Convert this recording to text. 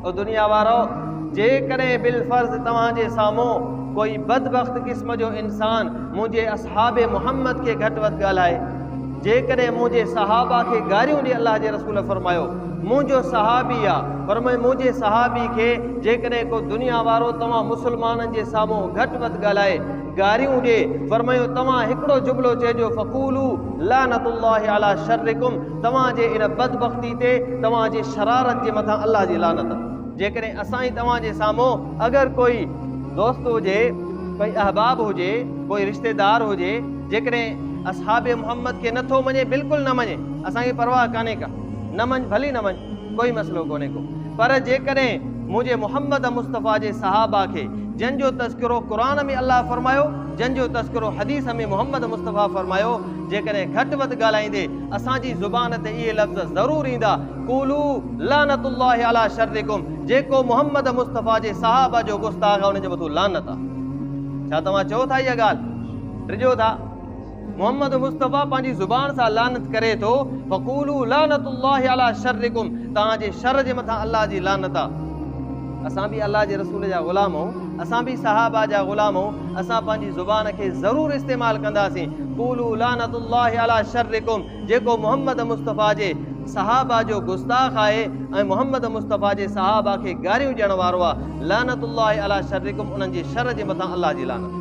او دنيا وارؤ! جيڪڏهن بالفرض توهان جي سامهون ڪوئي بدبخت قسم جو انسان منهنجي اصحاب محمد کي گهٽ وڌ ڳالهائي، جيڪڏهن منهنجي صحابه کي گاريون ڏي الله جي رسول فرمايو، منهنجو صحابي آ، فرمايو منهنجي صحابي کي جيڪڏهن ڪو دنيا وارو توهان مسلمانن جي سامهون گهٽ وڌ ڳالهائي، گاريون ڏي، فرمايو توهان هڪڙو جملو چئجو فقولوا لعنت الله علي شرڪم، توهان جي ان بدبختي تي توهان جي شرارت جي مٿان الله جي لعنت. جيڪڏهن اسان ئي توهان جي سامهون اگر ڪوئي دوست هجي، ڪوئي احباب هجي، ڪوئي رشتيدار هجي، جيڪڏهن اصحاب محمد کي نه ٿو مڃي بلڪل نه مڃي، اسان کي پرواهه ڪانهي ڪا، نه مڃ ڀلي نه مڃ، ڪوئي مسئلو ڪونهي ڪو، پر جيڪڏهن منهنجي محمد مصطفيٰ جي صحابه کي جن جو تذڪرو قرآن ۾ الله فرمايو، جن جو تذڪرو حديث ۾ محمد مصطفيٰ فرمايو، جيڪڏهن گهٽ وڌ ڳالهائيندي، اسان جي زبان تي اهي لفظ ضرور ايندا، قولو لعنت الله علي شرڪم، جيڪو محمد مصطفيٰ جي صحابه جو گستاخ آهي ان جي مٿو لعنت آهي. ڇا توهان چئو ٿا اها ڳالهه؟ ڊڄو ٿا. محمد مصطفيٰ پنهنجي زبان سان لعنت ڪري ٿو، فقولو لعنت الله علي شرڪم، توهان جي شر جي مٿان الله جي لعنت آهي. اسان به الله جي رسول جا غلام آهيون. اسان به صحابه جا غلام آهون اسان پنهنجي زبان کي ضرور استعمال ڪنداسين قولو لعنت الله علي شرڪم جيڪو محمد مصطفيٰ جي صحابه جو گستاخ آهي ۽ محمد مصطفيٰ جي صحابه کي گاريون ڏيڻ وارو آهي لعنت الله علي شرڪم انهن جي شر جي مٿان الله جي لعنت